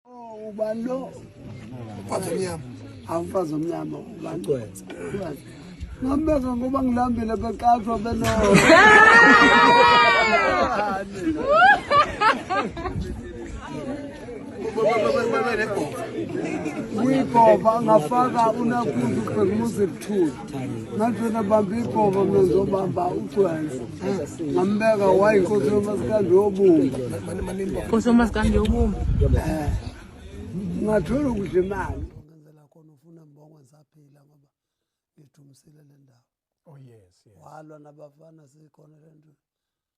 Oh, ubani lo? Mfazi omnyama. Awumfazi omnyama ubani? Ugcwensa. Ngambeka ngoba ngilambile beqathwa beno. uyigova ngafaka unakundi ubhekumuzi ebuthuli ngathi wena bamba igova mina ngizobamba ugcwenze ngambeka wayinkosi yomasikandi yobumba nkosi yomasikandi yobumba eh, ngathola ukudla imali ngenzela khona ufuna mbongo ngisaphila ngoba ngithumisile le ndawo oh, walwa nabafana sikhona le nto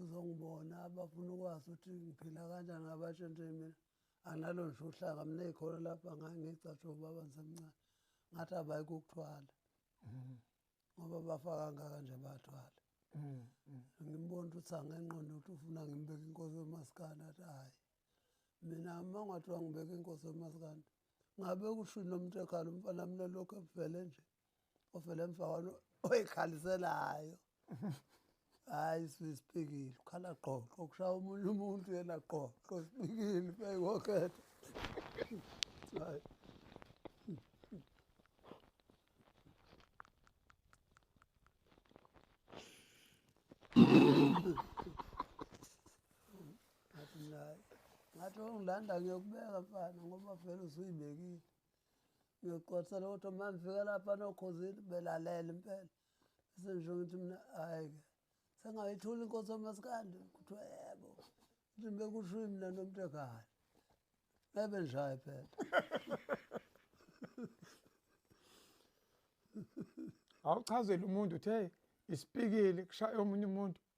uzongibona abafuna ukwazi ukuthi ngiphila kanjani ngabasho nje mina analo nje uhlaka mina ekhona lapha ngangicashe ubaba ngisemncane ngathi abayi kukuthwala mm-hmm. ngoba bafaka ngaka nje bathwala mm-hmm. ngimbona ukuthi angenqondo ukuthi ufuna ngimbeke inkosi yomasikandi athi hhayi mina uma ngathiwa ngibeke inkosi yomasikandi ngabe kushini lo muntu ekhala umfana mina lokhu ebuvele nje ofele mfana oyikhaliselayo hayi sisipikile ukhala qoqo okushaya omunye umuntu yena qoqo sipikile beyikokhetha hayi ngathi ongilanda ngiyokubeka mfana ngoba vele usuyibekile ngiyoqwathela kodwa uma ngifika lapha nokhozini belalele impela bese ngisho ngithi mina hhayi-ke sengayithula inkosi omasikandi kuthiwa yebo ukuthi bekusho mina nomntekani ebe njayi phela awuchazele umuntu uthe isipikili kushaya omunye umuntu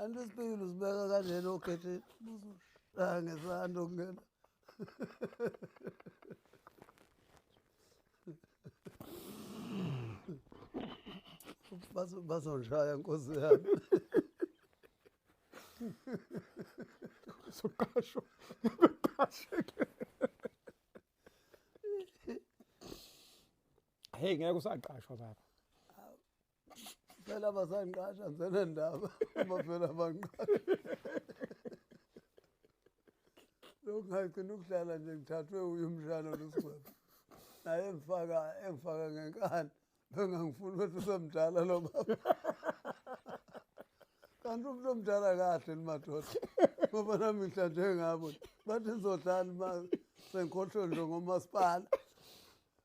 anti isipikile usibeka kanjena okhetheni ah, ngesando kungena bazonjaya nkosi yami soqasho beqasheke hey ngeke usaqashwa baba phela basangiqasha ngizena ndaba uma phela bangiqasha lokhu ngagcina ukudlala nje ngithathwe uye umshana losigwebo naye engifaka engifaka ngenkani bengangifuni ukuthi usemdala lo baba kanti umuntu omdala kahle nimadoda ngoba nami ngihlanje ngabo bathi ngizodlala imali sengikhohlwe nje ngomasipala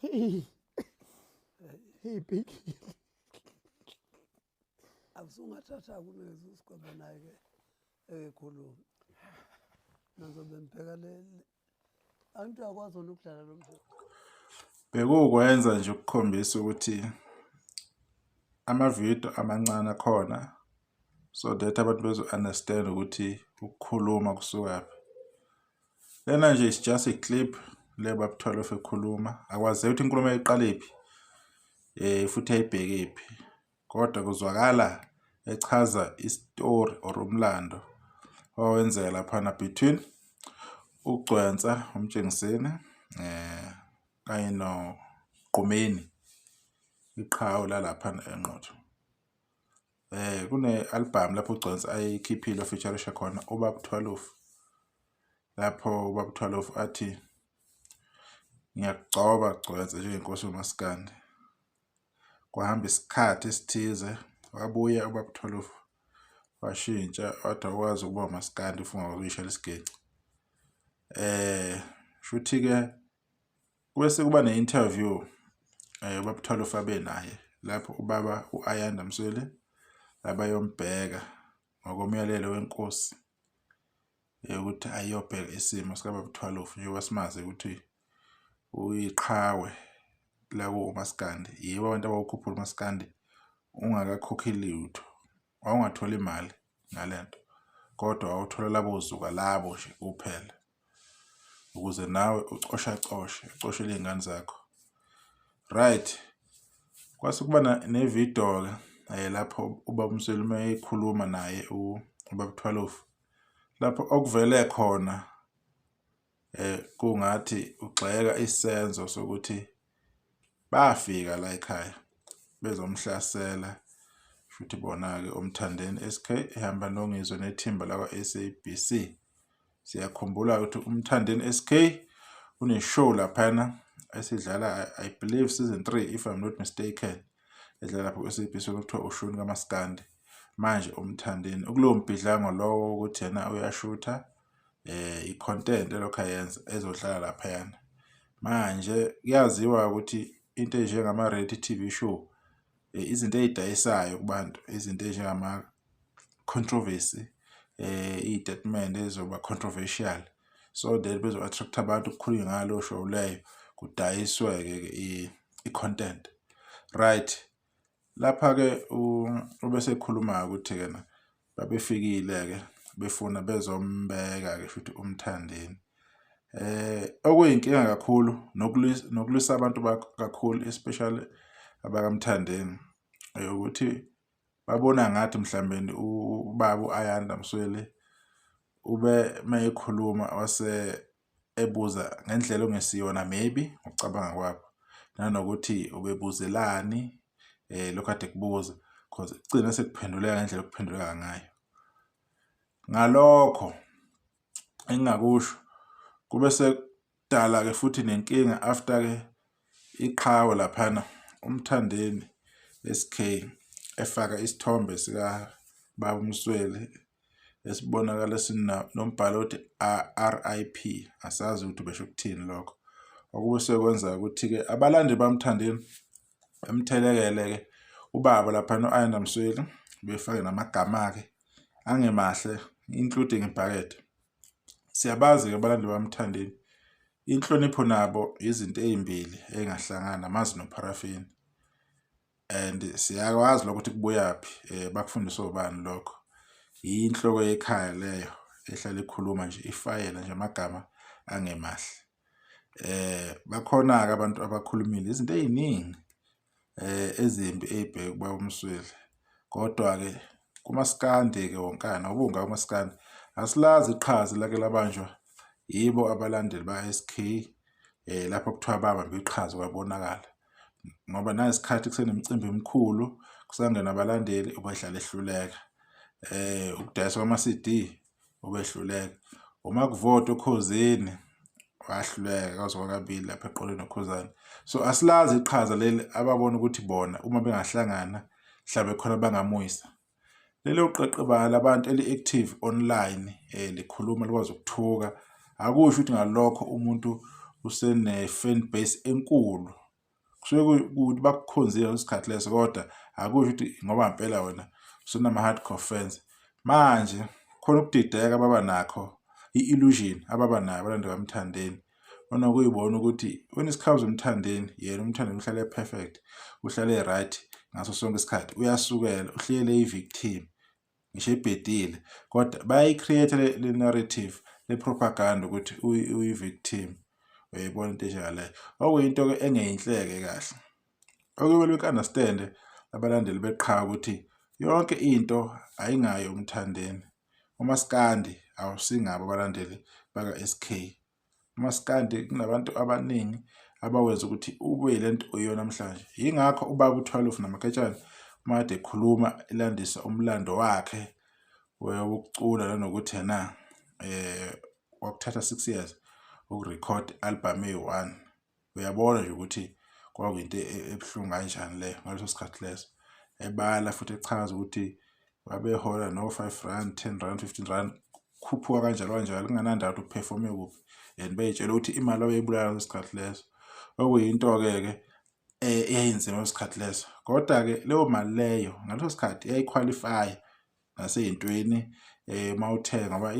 Hey. Hey big. Akusungathatha kunezi usikhombe naye ke ekhuluma. Nazobe mbheka le antu akwazi ukudlala lo mdlalo. Bekukwenza nje ukukhombisa ukuthi amavidiyo amancane akhona so that abantu bezo-understand ukuthi ukukhuluma kusukaphi lena nje is just a clip le babuthwala of ekhuluma akwazeki ukuthi inkulumo yayiqalephi um eh, futhi yayibhekephi kodwa kuzwakala echaza isitori or umlando owawenzeka laphana between ugcwensa umtshengiseni um kanye noqumeni iqhawe lalaphana enqotho eh kune album lapho uGcons ayikhiphile featurisha khona ubab 12 lapho ubab 12 athi ngiyakugcoba Gcons njengenkosi umaskandi kwahamba isikhathi esithize wabuya ubab 12 washintsha wathi wazi ukuba umaskandi ufunga ukuyishela isigeqi eh shuthi ke Kwese kuba ne-interview um eh, ubabuthwala ufabe naye lapho ubaba u-ayanda msweli abayombheka ngokomyalelo wenkosi ukuthi ayiyobheka isimo sikababuthwalofu njengoba simazi ukuthi uyiqhawe lakuwo umaskandi yibo abantu abawukhuphula umaskandi ungakakhokhi lutho wawungatholi imali ngalento kodwa wawuthola labo zuka labo nje kuphela ukuze nawe ucosha coshe ucoshele izingane zakho right kwase kuba ne video ke eh, lapho ubaba Mseluma ekhuluma naye ubaba Thwalofu lapho okuvele khona Eh kungathi ugxeka isenzo sokuthi bafika la ekhaya bezomhlasela futhi bona-ke umthandeni SK ehamba nongizwe nethimba lakwa-SABC siyakhumbula ukuthi umthandeni SK uneshow laphana esidlala I believe season 3 if I'm not mistaken edlala lapho kwi-SABC okuthiwa ushuni kamaskandi manje umthandeni ukulowo mbhidlango lowo ukuthi yena uyashutha eh i-content elokhu ayenza ezohlala laphayana manje kuyaziwa ukuthi into enjengama-reality t v show eh, izinto ey'dayisayo kubantu izinto ezinjengama-controversy eh iy'tatimende ezoba controversial so that bezo-attract-a abantu kukhulunywe ngalo show leyo kudayiswe-ke i-content right Lapha-ke ubesekhuluma-ke ukuthi-ke na babefikile-ke befuna bezombeka-ke futhi umthandeni eh okuyinkinga kakhulu nokulwisa abantu kakhulu especially abakamthandeni ukuthi babona ngathi mhlawumbe ubaba uAyanda Msweli ube mayekhuluma wase ebuza ngendlela ongesiyona maybe ngokucabanga kwabo nanokuthi ubebuzelani eh lokho ade kubuza because kugcina sekuphenduleka ngendlela okuphenduleka ngayo ngalokho engingakusho kube sekudala ke futhi nenkinga after ke Iqhawe laphana uMthandeni SK efaka isithombe sika Baba Msweli esibonakala sinombhalo othi RIP asazi ukuthi besho ukuthini lokho okube sekwenza ukuthi-ke abalandi bamthandeni bemthelekele-ke ubaba laphana u-ayanda msweli befake namagama akhe angemahle including ibhakede siyabazi-ke abalandi bamthandeni Inhlonipho nabo izinto ezimbili engahlangana amazi nopharafini and siyakwazi lokuthi kubuyaphi eh bakufundiswa ubani lokho yinhloko yekhaya leyo ehlala ikhuluma nje ifayela nje amagama angemahle eh bakhona ke abantu abakhulumile izinto eziningi eh, ezimbi eyibheke kuba umsweli kodwa-ke kumaskandi-ke wonkana ubunga umaskandi asilazi iqhaza lake labanjwa yibo abalandeli ba-sk um eh, lapho kuthiwa babambe iqhaza kwabonakala ngoba nayisikhathi kusenemicimbi emikhulu kusangena abalandeli ubadlala ehluleka um ukudayisa kwama-cd obehluleka uma kuvota ukhozini wahluleka kazoba kabili lapha eqoleni nokhuzane so asilazi iqhaza leli ababona ukuthi bona uma bengahlangana mhlawumbe khona bangamuyisa lelo qeqebala labantu eli-active online um likhuluma likwazi ukuthuka akusho ukuthi ngalokho umuntu usene-fan base enkulu kusuke kukuthi bakukhonzile ngaleso sikhathi leso kodwa akusho ukuthi ngoba ngempela wena usunama-hardcore fans manje khona ukudideka baba nakho i-illusion ababa nayo abalandi kamthandeni onokuyibona ukuthi wena isikhawu umthandeni yena umthandeni uhlale e-perfect uhlale e-right ngaso sonke isikhathi uyasukela uhlele i-victim ngisho ibhedile kodwa bayayi-create le narrative le propaganda ukuthi uyi-victim uyayibona into enjengaleyo okuyinto-ke engeyinhleke kahle okumele uku-understande abalandeli beqhawe ukuthi yonke into ayingayo umthandeni umaskandi awusingabo abalandeli baka-sk umaskandi kunabantu abaningi abawenza ukuthi ube le nto uyona namhlanje yingakho ubaba uthwalofu namaketshane uma kade ekhuluma elandisa umlando wakhe wokucula nanokuthi na um wakuthatha six years ukurekhod album eyi-one uyabona nje ukuthi kwakuyinto e-, e-, ebuhlungu kanjani le ngaleso sikhathi leso ebala futhi echaza ukuthi babehola no-five rand ten rand fifteen rand khuphuka kanjalo kanjalo kunganandaba ukuthi uphefome kuphi and beyitshela ukuthi imali abeyibulala ngaleso sikhathi leso okuyinto-ke ke um eyayinzima ngaleso sikhathi leso kodwa-ke leyo mali leyo ngaleso sikhathi yayikhwalifaya nasey'ntweni eh uma uthenga ngoba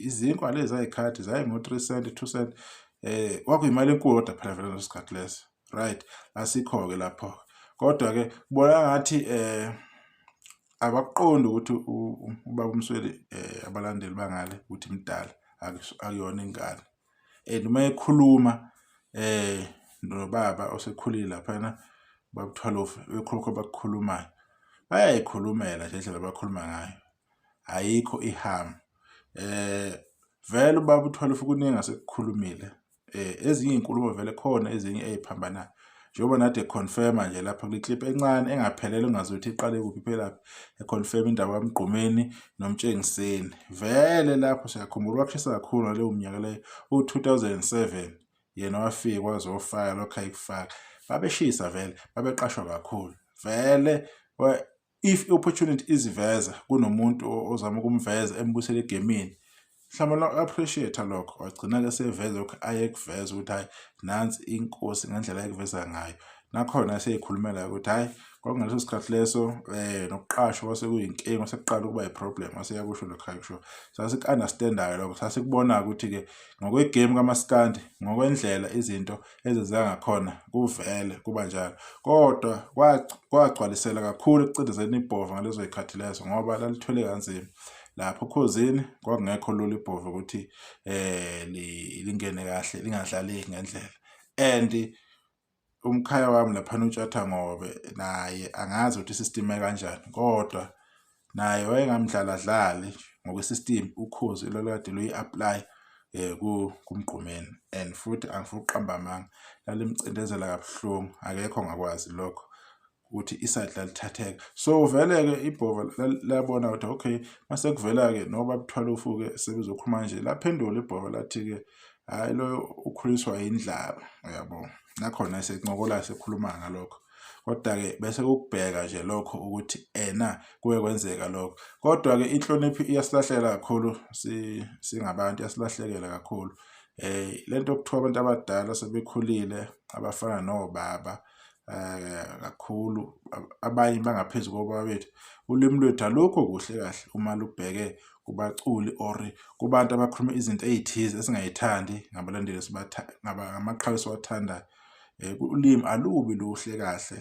izinkwa lezi zayikhathi zayingo-three cent two cent eh kwakuyimali enkulu kodwa phela vele leso sikhathi leso right asikho-ke lapho kodwa-ke kubona ngathi eh abakuqondi ukuthi ubaba umsweli eh abalandeli bangale ukuthi mdala akuyona ingane and uma ekhuluma eh nobaba osekhulile laphana babuthwalofu bekhulukho bakukhulumayo bayayikhulumela nje indlela abakhuluma ngayo ayikho ihama eh vele ubaba uthwalofu kuningi asekukhulumile eh ezinye izinkulumo vele khona ezinye eziphambanayo njengoba nathi econfirma nje lapha kwi-clip encane engaphelele ungazi ukuthi iqale kuphi iphelaphi econfirma indaba kamgqumeni nomtshengiseni vele lapho siyakhumbula wakushisa kakhulu ngaleyo mnyaka leyo u-2007 yena wafika kwaze wofaka lokho ayikufaka babeshisa vele babeqashwa kakhulu vele if i-opportunity iziveza kunomuntu ozama ukumveza embusele egemini mhlawumbe lo-appreciate-a lokho wagcina-ke seveza lokhu ayekuveza ukuthi hhayi nansi inkosi ngendlela ayekuveza ngayo nakhona eseyikhulumela ukuthi hhayi kwakungaleso sikhathi leso um nokuqashwa kwasekuyinkinga sekuqala ukuba yiproblem aseyakusho lokho akusho sasiku-understand-ayo lokho sasikubonayo ukuthi-ke ngokwegame kamaskandi ngokwendlela izinto ezenziwa ngakhona kuvele kuba njalo kodwa kwagcwalisela kakhulu ekucindezeni ibhova ngalezo y'khathi lezo ngoba lalithwele kanzima lapho okhozini kwakungekho lula ibhova ukuthi um lingene kahle lingadlaleki ngendlela and umkhaya wami laphana utshatha ngobe naye angazi ukuthi sistime kanjani kodwa naye wayengamdlaladlali ngokwesystem ukhozi lolwade luyi-apply eh kumgqumeni and futhi angifuni ukuqamba amanga lalimcindezela kabuhlungu akekho ngakwazi lokho ukuthi iside lalithatheka so vele-ke ibhova labona ukuthi okay mase kuvela-ke noba buthwala ufuke sebezokhuluma nje laphendula ibhova lathi-ke hhayi loyo ukhuliswa yindlaba uyabo nakhona esencokola sekhuluma ngalokho kodwa-ke bese kukubheka nje lokho ukuthi ena kuke kwenzeka lokho kodwa-ke inhlonipho iyasilahlekela kakhulu singabantu iyasilahlekela kakhulu um le nto okuthiwa abantu abadala sebekhulile abafana nobaba eh, kakhulu abanye bangaphezu kobaba bethu ulimi lwethu alukho kuhle kahle uma lubheke kubaculi or kubantu abakhuluma izinto ey'thize esingayithandi ngabalandeli ngamaqhawe esiwathandayo um ulimi alubi luhle kahle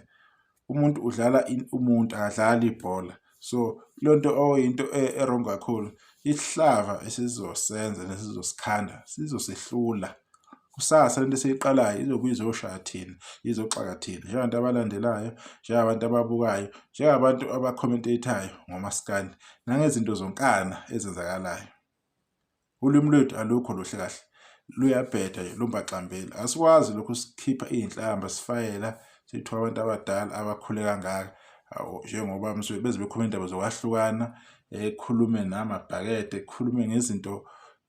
umuntu udlala umuntu akadlali ibhola so le nto oyinto e, erong kakhulu isihlava esizosenza nesizosikhanda sizosehlula kusasa lento esiyiqalayo izobuye izoshaya thina izoxaka thina njengabantu abalandelayo njengabantu ababukayo njengabantu abacommentatayo ngomasikandi nangezinto zonkana ezenzakalayo Ulwimi lwethu alukho luhle kahle luyabheda nje lumbaxambili asikwazi lokhu sikhipha iy'nhlamba sifayela sithiwa abantu abadala abakhule kangaka njengoba msuke beze bekhuluma indaba zokwahlukana ekhulume namabhakede ekhulume ngezinto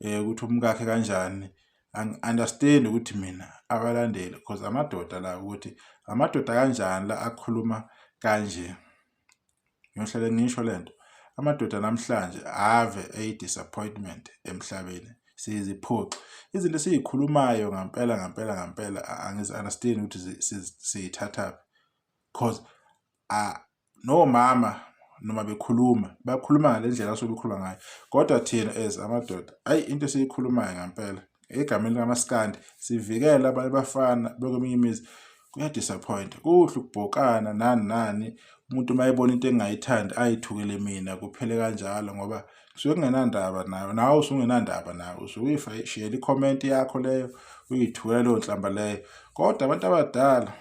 um ukuthi umkakhe kanjani angi-understand ukuthi mina abalandeli because amadoda la ukuthi amadoda kanjani la akhuluma kanje ngiyohlale ngisho le nto amadoda namhlanje ave eyi-disappointment emhlabeni siyiziphoxi izinto esiyikhulumayo ngampela ngampela ngampela angizi-understand ukuthi siyithathaphi because nomama noma bekhuluma bakhuluma ngale ndlela asuke bekhuluma ngayo kodwa thina as amadoda ayi into esiyikhulumayo ngampela egameni likaMaskandi sivikele abanye bafana bekweminye imizi kuyadisappointa kuhle ukubhokana nani nani umuntu uma ebona into engingayithandi ayithukele mina kuphele kanjalo ngoba kusuke kungenandaba nayo nawe usungenandaba nayo usuke uyishiyela ikhomenti yakho leyo uyithukela leyo nhlamba leyo kodwa abantu abadala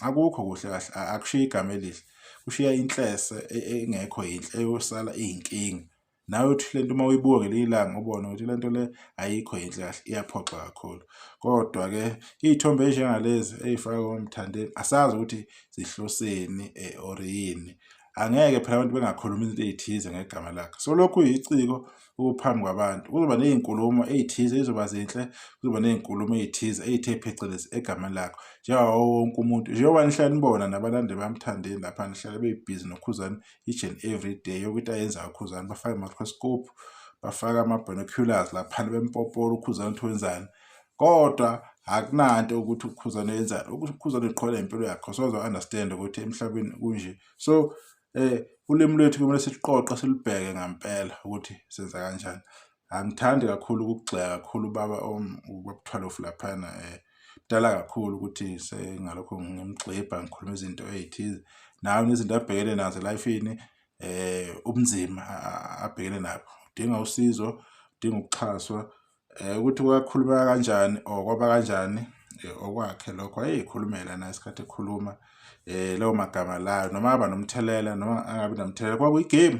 akukho kuhle kahle akushiya igama elihle kushiya inhlese e, e, engekho yinhle eyosala iyinkinga nawe uthi le nto uma uyibuka ngelinye ilanga ubone ukuthi le nto le ayikho yinhle kahle iyaphoxa kakhulu kodwa-ke iy'thombe ezinjengalezi ey'faka komthandeni asazi ukuthi zihloseni eh, or yini angeke phela abantu bengakhuluma izinto ey'thize ngegama lakhe so lokhu yiciko ukuphambi kwabantu kuzoba ney'nkulumo ey'thize ey'zoba zinhle kuzoba ney'nkulumo ey'thize ey'the phecelezi egameni lakho njengawo wonke umuntu njengoba nihlale nibona nabalandeli bamthandeni lapha nihlale bebhizi nokhuzani each and every day yonke into ayenzayo ukhuzani bafake i-microscope bafake ama-binoculars laphana bempopora ukhuzani ukuthi wenzani kodwa akunanto ukuthi ukhuzane yenzani ukuthi ukhuzane uqhwala impilo yakho sozo understand ukuthi emhlabeni kunje so eh ulimi lwethu kumele siqoqe silibheke ngempela ukuthi senza kanjani angithandi kakhulu ukugxeka kakhulu ubaba ubabuthwalof laphana um mdala kakhulu ukuthi sengalokho ngimgxibha ngikhuluma izinto ey'thize nawe nezinto abhekene nazo elifini um eh, ubunzima abhekene nabo udinga usizo udinga ukuxhaswa um ukuthi kwakhulumeka kanjani or kwaba kanjani eh, okwakhe lokho ayeyikhulumela na isikhathi ekhuluma um lawo magama layo noma aba nomthelela noma angabi namthelela kwakuyigame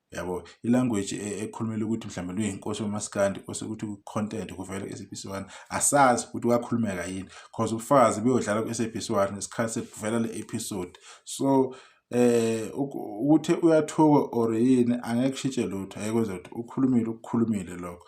yabo ilanguage e, ekhulumela ukuthi mhlawumbe luyinkosi yomaskandi kose ukuthi ku-content kuvele ku-sabc one asazi ukuthi wakhulumeka yini cause ubufakazi beyodlala ku-sabc one ngesikhathi sekuvela le episode so eh ukuthi uyathuka or yini angeke shitshe lutho ayekwenza ukuthi ukhulumile ukukhulumile lokho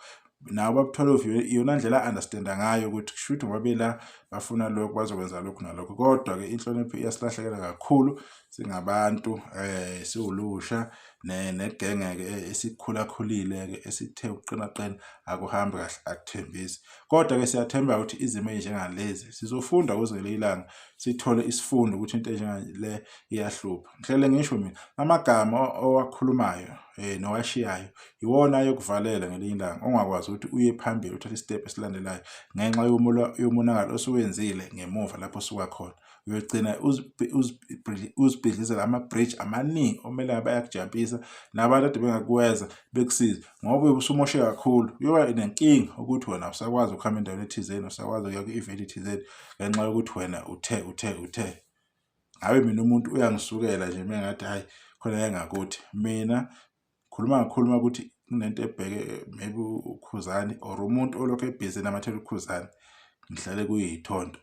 nawo babuthola iyona ndlela a-understanda ngayo ukuthi kusho ukuthi ngoba bela bafuna lokhu bazokwenza lokhu nalokhu kodwa-ke inhlonipho iyasilahlekela kakhulu singabantu um siwulusha negenge-ke e, esikhulakhulile-ke esithe ukuqinaqina akuhambi kahle akuthembisi kodwa-ke siyathemba ukuthi izimo ezinjengalezi sizofunda kuze ngele ilanga sithole isifundo ukuthi into enjengale iyahlupha ngihlele ngisho mina amagama owakhulumayo eh nowashiyayo iwona ayokuvalela ngelinye ilanga ongakwazi ukuthi uye phambili uthathe istep esilandelayo ngenxa yomonakalo osuwenzile ngemuva lapho suka khona uyogcina uzibhidlizela ama-bridge amaningi omele ngabe ayakujabhisa nabantu ade bengakuweza bekusiza ngoba uyobe usumoshe kakhulu uyoba nenkinga ukuthi wena usakwazi ukuhamba endaweni ethizeni usakwazi ukuya kwi-event ethizeni ngenxa yokuthi wena uthe uthe uthe ngabe mina umuntu uyangisukela nje mengathi hayi khona engakuthi mina khuluma ngakhuluma ukuthi kunento ebheke maybe ukhuzani or umuntu olokhu ebhizi namathela ukhuzani ngihlale kuyithondo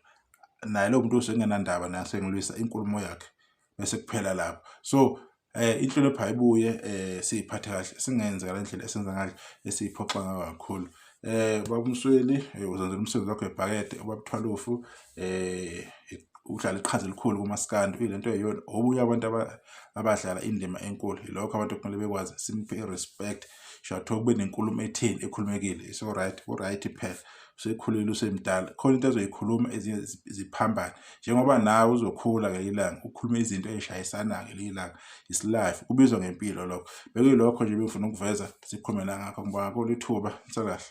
naye lo muntu usengenandaba naye sengilwisa inkulumo yakhe bese kuphela lapho so eh inhlonipho ayibuye eh siyiphathe kahle singenze ngale ndlela esenza ngayo esiyiphoxa ngayo kakhulu eh babumsweli eh, uzenzela umsebenzi wakho ebhakede ubabuthwalufu eh udlala iqhaza elikhulu kumaskandi uyilento eyona obuye abantu abadlala indima enkulu yilokho abantu kumele bekwazi simpe respect shatho kube nenkulumo ethini ekhulumekile so right ku right phela usekhulile usemdala khona into azoyikhuluma ezinye ziphambane njengoba nawe uzokhula ngelinye ilanga ukhulume izinto ey'shayisana ngelinye ilanga is life kubizwa ngempilo lokho bekuyilokho nje bengifuna ukuveza sikhulume la ngakho ngibonga kolu ithuba nsakahle